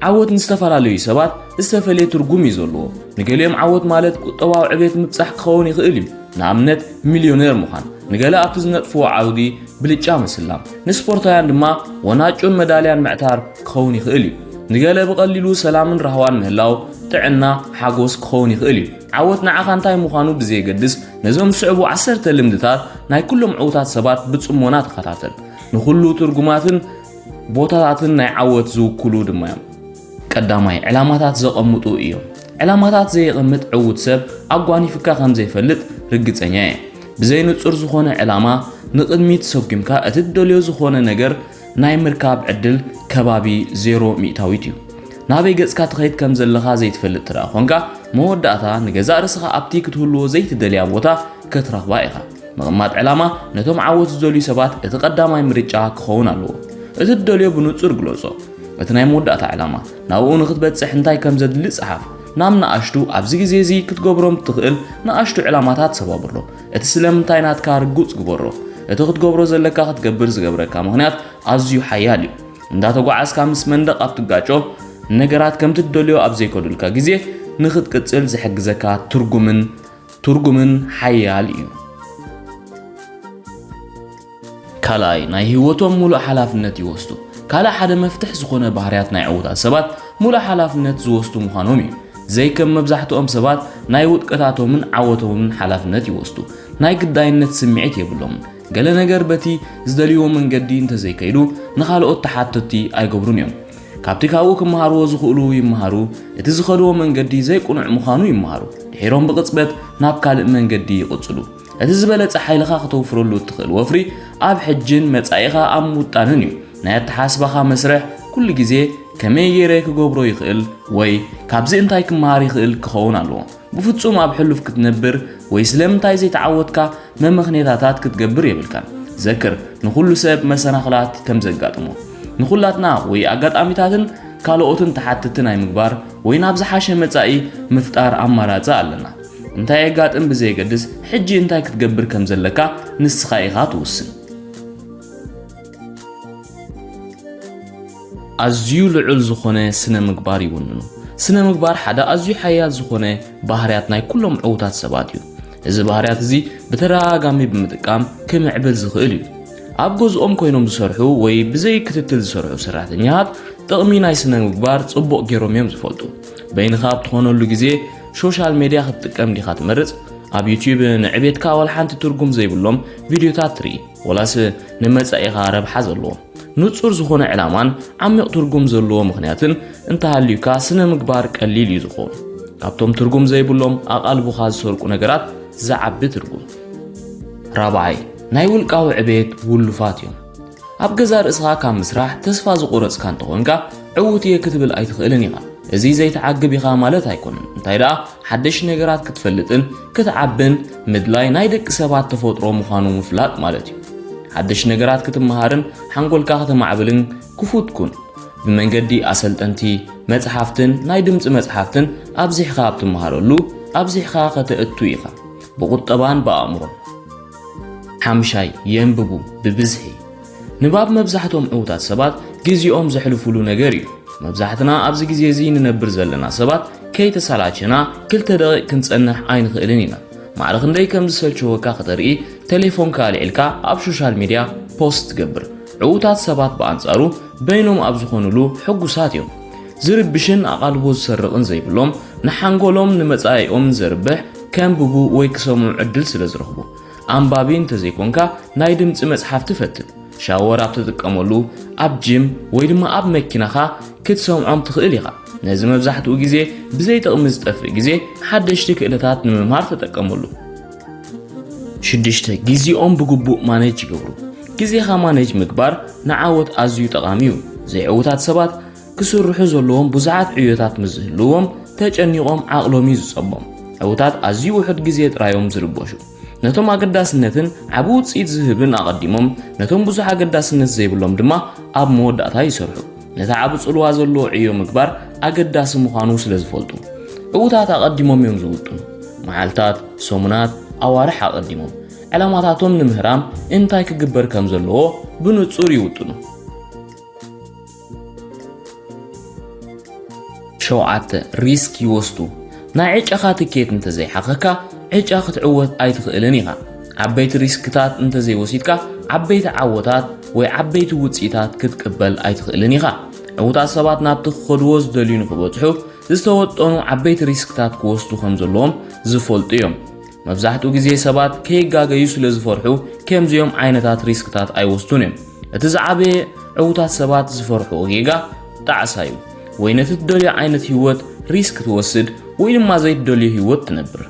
ዓወት ንዝተፈላለዩ ሰባት ዝተፈለየ ትርጉም እዩ ዘለዎ። ንገሊኦም ዓወት ማለት ቁጠባዊ ዕቤት ምብጻሕ ክኸውን ይኽእል እዩ፣ ንኣብነት ሚልዮነር ምዃን። ንገለ ኣብቲ ዝነጥፍዎ ዓውዲ ብልጫ ምስላም፣ ንስፖርታውያን ድማ ወናጩን መዳልያን ምዕታር ክኸውን ይኽእል እዩ። ንገለ ብቐሊሉ ሰላምን ራህዋን ምህላው፣ ጥዕና፣ ሓጎስ ክኸውን ይኽእል እዩ። ዓወት ንዓኻ እንታይ ምዃኑ ብዘየገድስ ነዞም ዝስዕቡ ዓሰርተ ልምድታት ናይ ኩሎም ዕዉታት ሰባት ብጽሞና ተኸታተል። ንኹሉ ትርጉማትን ቦታታትን ናይ ዓወት ዝውክሉ ድማ እዮም። ቀዳማይ ዕላማታት ዘቐምጡ እዮም። ዕላማታት ዘየቐምጥ ዕውት ሰብ ኣጓኒፍካ ከም ዘይፈልጥ ርግጸኛ እየ። ብዘይ ንጹር ዝኾነ ዕላማ ንቕድሚት ሰጉምካ እቲ ትደልዮ ዝኾነ ነገር ናይ ምርካብ ዕድል ከባቢ ዜሮ ሚእታዊት እዩ። ናበይ ገጽካ ትኸይድ ከም ዘለኻ ዘይትፈልጥ ትረኣ ኾንካ መወዳእታ ንገዛእ ርስኻ ኣብቲ ክትህልዎ ዘይትደልያ ቦታ ከትረኽባ ኢኻ። ምቕማጥ ዕላማ ነቶም ዓወት ዝደልዩ ሰባት እቲ ቀዳማይ ምርጫ ክኸውን ኣለዎ። እቲ ትደልዮ ብንጹር ግለጾ። እቲ ናይ መወዳእታ ዕላማ፣ ናብኡ ንኽትበጽሕ እንታይ ከም ዘድሊ ጸሓፍ። ናብ ንኣሽቱ፣ ኣብዚ ግዜ እዚ ክትገብሮም እትኽእል ንኣሽቱ ዕላማታት ሰባብሮ። እቲ ስለምንታይ ናትካ ርጉጽ ግበሮ። እቲ ክትገብሮ ዘለካ ክትገብር ዝገብረካ ምኽንያት ኣዝዩ ሓያል እዩ። እንዳተጓዓዝካ ምስ መንደቕ ኣብ ትጋጮ፣ ንነገራት ከምቲ ትደልዮ ኣብ ዘይከዱልካ ግዜ ንኽትቅጽል ዝሕግዘካ ትርጉምን ትርጉምን ሓያል እዩ። ካልኣይ፣ ናይ ህይወቶም ሙሉእ ሓላፍነት ይወስዱ። ካልእ ሓደ መፍትሕ ዝኾነ ባህርያት ናይ ዕዉታት ሰባት ሙሉእ ሓላፍነት ዝወስዱ ምዃኖም እዩ። ዘይከም መብዛሕትኦም ሰባት ናይ ውድቀታቶምን ዓወቶምን ሓላፍነት ይወስዱ። ናይ ግዳይነት ስምዒት የብሎምን። ገለ ነገር በቲ ዝደልይዎ መንገዲ እንተዘይከይዱ ንኻልኦት ተሓተቲ ኣይገብሩን እዮም። ካብቲ ካብኡ ክመሃርዎ ዝኽእሉ ይመሃሩ፣ እቲ ዝኸድዎ መንገዲ ዘይቅኑዕ ምዃኑ ይመሃሩ፣ ድሒሮም ብቕጽበት ናብ ካልእ መንገዲ ይቕጽሉ። እቲ ዝበለጸ ሓይልኻ ክተውፍረሉ እትኽእል ወፍሪ ኣብ ሕጅን መጻኢኻ ኣብ ምውጣንን እዩ። ናይ ኣተሓስባኻ መስርሕ ኩሉ ግዜ ከመይ ገይረ ክገብሮ ይኽእል ወይ ካብዚ እንታይ ክመሃር ይኽእል ክኸውን ኣለዎ። ብፍጹም ኣብ ሕሉፍ ክትነብር ወይ ስለምንታይ ዘይተዓወትካ መመኽኔታታት ክትገብር የብልካን። ዘክር፣ ንኹሉ ሰብ መሰናኽላት ከም ዘጋጥሞ። ንኹላትና ወይ ኣጋጣሚታትን ካልኦትን ተሓተቲ ናይ ምግባር ወይ ናብ ዝሓሸ መጻኢ ምፍጣር ኣማራጺ ኣለና። እንታይ የጋጥም ብዘየገድስ ሕጂ እንታይ ክትገብር ከም ዘለካ ንስኻ ኢኻ ትውስን። ኣዝዩ ልዑል ዝኾነ ስነ ምግባር ይውንኑ። ስነ ምግባር ሓደ ኣዝዩ ሓያል ዝኾነ ባህርያት ናይ ኩሎም ዕዉታት ሰባት እዩ። እዚ ባህርያት እዚ ብተደጋጋሚ ብምጥቃም ክምዕብል ዝኽእል እዩ። ኣብ ገዝኦም ኮይኖም ዝሰርሑ ወይ ብዘይ ክትትል ዝሰርሑ ሰራሕተኛታት ጥቕሚ ናይ ስነ ምግባር ጽቡቕ ገይሮም እዮም ዝፈልጡ። በይንኻ ኣብ ትኾነሉ ግዜ ሶሻል ሜድያ ክትጥቀም ዲኻ ትመርጽ? ኣብ ዩትዩብ ንዕቤትካ ዋላ ሓንቲ ትርጉም ዘይብሎም ቪድዮታት ትርኢ። ወላስ ንመጻኢኻ ረብሓ ዘለዎ ንጹር ዝኾነ ዕላማን ዓሚቕ ትርጉም ዘለዎ ምኽንያትን እንተሃልዩካ ስነ ምግባር ቀሊል እዩ ዝኾኑ ካብቶም ትርጉም ዘይብሎም ኣቓልቡኻ ዝሰርቁ ነገራት ዝዓቢ ትርጉም ራብዓይ ናይ ውልቃዊ ዕቤት ውሉፋት እዮም ኣብ ገዛ ርእስኻ ካብ ምስራሕ ተስፋ ዝቑረጽካ እንተኾንካ ዕዉት እየ ክትብል ኣይትኽእልን ኢኻ እዚ ዘይተዓግብ ኢኻ ማለት ኣይኮነን እንታይ ደኣ ሓደሽ ነገራት ክትፈልጥን ክትዓብን ምድላይ ናይ ደቂ ሰባት ተፈጥሮ ምዃኑ ምፍላጥ ማለት እዩ። ሓደሽ ነገራት ክትመሃርን ሓንጎልካ ከተማዕብልን ክፉት ኩን። ብመንገዲ ኣሰልጠንቲ፣ መጽሓፍትን ናይ ድምጺ መጽሓፍትን ኣብዚሕካ ኣብ ትመሃረሉ ኣብዚሕካ ከተእቱ ኢኻ፣ ብቑጠባን ብኣእምሮን። ሓምሻይ፣ የንብቡ ብብዝሒ። ንባብ መብዛሕቶም ዕዉታት ሰባት ግዜኦም ዘሕልፉሉ ነገር እዩ። መብዛሕትና ኣብዚ ግዜ እዚ ንነብር ዘለና ሰባት ከይተሰላቸና ክልተ ደቒቕ ክንጸንሕ ኣይንኽእልን ኢና። ማዕረ ክንደይ ከም ዝሰልቸወካ ከተርኢ ቴሌፎንካ ኣልዒልካ ኣብ ሾሻል ሚድያ ፖስት ትገብር። ዕዉታት ሰባት ብኣንጻሩ በይኖም ኣብ ዝኾኑሉ ሕጉሳት እዮም። ዝርብሽን ኣቓልቦ ዝሰርቕን ዘይብሎም፣ ንሓንጎሎምን ንመጻኢኦምን ዘርብሕ ከንብቡ ወይ ክሰምዑ ዕድል ስለ ዝረኽቡ። ኣንባቢ እንተዘይኮንካ ናይ ድምጺ መጽሓፍቲ ፈትን። ሻወር ኣብ ትጥቀመሉ፣ ኣብ ጂም ወይ ድማ ኣብ መኪናኻ ክትሰምዖም ትኽእል ኢኻ። ነዚ መብዛሕትኡ ግዜ ብዘይ ጥቕሚ ዝጠፍእ ግዜ ሓደሽቲ ክእለታት ንምምሃር ተጠቀመሉ። ሽዱሽተ፣ ግዜኦም ብግቡእ ማነጅ ይገብሩ። ግዜኻ ማነጅ ምግባር ንዓወት ኣዝዩ ጠቓሚ እዩ። ዘይዕዉታት ሰባት ክስርሑ ዘለዎም ብዙሓት ዕዮታት ምስ ዝህልዎም ተጨኒቖም ዓቕሎም እዩ ዝጸቦም። ዕውታት ኣዝዩ ውሑድ ግዜ ጥራይ እዮም ዝርበሹ። ነቶም ኣገዳስነትን ዓቢ ውጽኢት ዝህብን ኣቐዲሞም፣ ነቶም ብዙሕ ኣገዳስነት ዘይብሎም ድማ ኣብ መወዳእታ ይሰርሑ። ነቲ ዓቢ ጽልዋ ዘለዎ ዕዮ ምግባር ኣገዳሲ ምዃኑ ስለ ዝፈልጡ፣ ዕውታት ኣቐዲሞም እዮም ዝውጥኑ። መዓልታት፣ ሰሙናት፣ ኣዋርሕ ኣቐዲሞም ዕላማታቶም ንምህራም እንታይ ክግበር ከም ዘለዎ ብንጹር ይውጥኑ። ሸውዓተ፣ ሪስክ ይወስዱ። ናይ ዕጫኻ ትኬት እንተዘይሓኸካ ዕጫ ክትዕወት ኣይትኽእልን ኢኻ። ዓበይቲ ሪስክታት እንተዘይወሲድካ ዓበይቲ ዓወታት ወይ ዓበይቲ ውፅኢታት ክትቅበል ኣይትኽእልን ኢኻ። ዕውታት ሰባት ናብቲ ክኸድዎ ዝደልዩ ንክበፅሑ ዝተወጠኑ ዓበይቲ ሪስክታት ክወስዱ ከም ዘለዎም ዝፈልጡ እዮም። መብዛሕትኡ ግዜ ሰባት ከይጋገዩ ስለ ዝፈርሑ ከምዚኦም ዓይነታት ሪስክታት ኣይወስዱን እዮም። እቲ ዝዓበየ ዕውታት ሰባት ዝፈርሕዎ ጌጋ ጣዕሳ እዩ። ወይ ነቲ ትደልዮ ዓይነት ህይወት ሪስክ ትወስድ ወይ ድማ ዘይትደልዮ ህይወት ትነብር።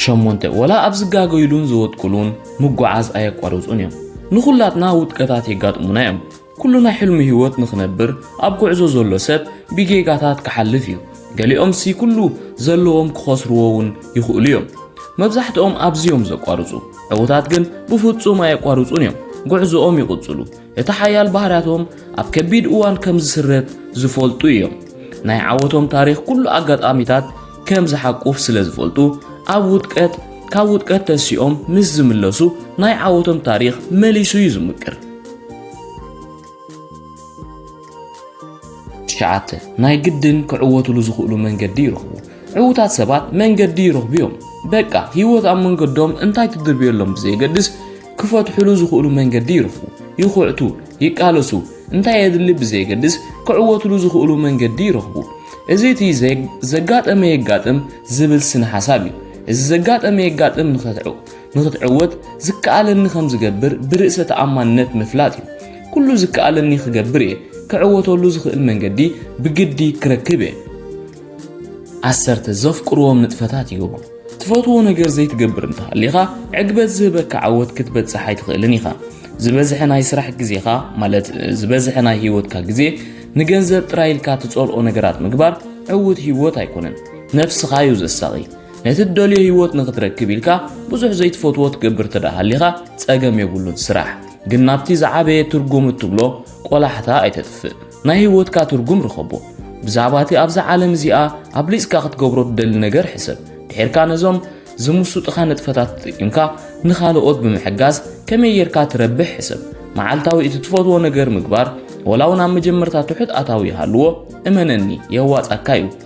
ሸሞንተ ወላ ኣብ ዝጋገዩሉን ዝወድቅሉን ምጉዓዝ ኣየቋርጹን እዮም። ንኹላትና ውድቀታት የጋጥሙና እዮም። ኩሉ ናይ ሕልሙ ህይወት ንኽነብር ኣብ ጉዕዞ ዘሎ ሰብ ብጌጋታት ክሓልፍ እዩ። ገሊኦምሲ ኩሉ ዘለዎም ክኸስርዎ እውን ይኽእሉ እዮም። መብዛሕትኦም ኣብዚ እዮም ዘቋርጹ። ዕዉታት ግን ብፍጹም ኣየቋርጹን እዮም፣ ጉዕዞኦም ይቕጽሉ። እቲ ሓያል ባህርያቶም ኣብ ከቢድ እዋን ከም ዝስረት ዝፈልጡ እዮም። ናይ ዓወቶም ታሪኽ ኩሉ ኣጋጣሚታት ከም ዝሓቁፍ ስለ ዝፈልጡ ኣብ ውድቀት ካብ ውድቀት ተሲኦም ምስ ዝምለሱ ናይ ዓወቶም ታሪኽ መሊሱ እዩ ዝምቅር። ትሽዓተ፣ ናይ ግድን ክዕወትሉ ዝኽእሉ መንገዲ ይረኽቡ። ዕዉታት ሰባት መንገዲ ይረኽቡ እዮም። በቃ ህይወት ኣብ መንገዶም እንታይ ትድርብየሎም ብዘየገድስ ክፈትሕሉ ዝኽእሉ መንገዲ ይረኽቡ። ይኹዕቱ፣ ይቃለሱ፣ እንታይ የድሊ ብዘየገድስ ክዕወትሉ ዝኽእሉ መንገዲ ይረኽቡ። እዚ እቲ ዘጋጠመ የጋጥም ዝብል ስነ ሓሳብ እዩ። እዚ ዘጋጠመ የጋጥም ንኸትዕው ንኽትዕወት ዝከኣለኒ ከም ዝገብር ብርእሰ ተኣማንነት ምፍላጥ እዩ። ኩሉ ዝከኣለኒ ክገብር እየ፣ ክዕወተሉ ዝኽእል መንገዲ ብግዲ ክረክብ እየ። ዓሰርተ ዘፍቅርዎም ንጥፈታት ይገብሩ። ትፈትዎ ነገር ዘይትገብር እንተሃሊኻ ዕግበት ዝህበካ ዓወት ክትበጽሕ ኣይትኽእልን ኢኻ። ዝበዝሐ ናይ ስራሕ ግዜኻ ማለት ዝበዝሐ ናይ ህይወትካ ግዜ ንገንዘብ ጥራይ ኢልካ ትጸልኦ ነገራት ምግባር ዕውት ህይወት ኣይኮነን፣ ነፍስኻ እዩ ዘሳቒ። ነቲ ትደልዮ ህይወት ንክትረክብ ኢልካ ብዙሕ ዘይትፈትዎ ትገብር እንተ ሃሊኻ ጸገም የብሉን ስራሕ። ግን ናብቲ ዝዓበየ ትርጉም እትብሎ ቆላሕታ ኣይተጥፍእ። ናይ ህይወትካ ትርጉም ርኸቦ። ብዛዕባ እቲ ኣብዛ ዓለም እዚኣ ኣብሊጽካ ክትገብሮ ትደሊ ነገር ሕሰብ። ድሒርካ ነዞም ዝምሱጥኻ ንጥፈታት ተጠቂምካ ንኻልኦት ብምሕጋዝ ከመይ ጌርካ ትረብሕ ሕሰብ። መዓልታዊ እቲ ትፈትዎ ነገር ምግባር ወላ እውን ኣብ መጀመርታ ትሑት ኣታዊ ይሃልዎ እመነኒ የዋጻካ እዩ።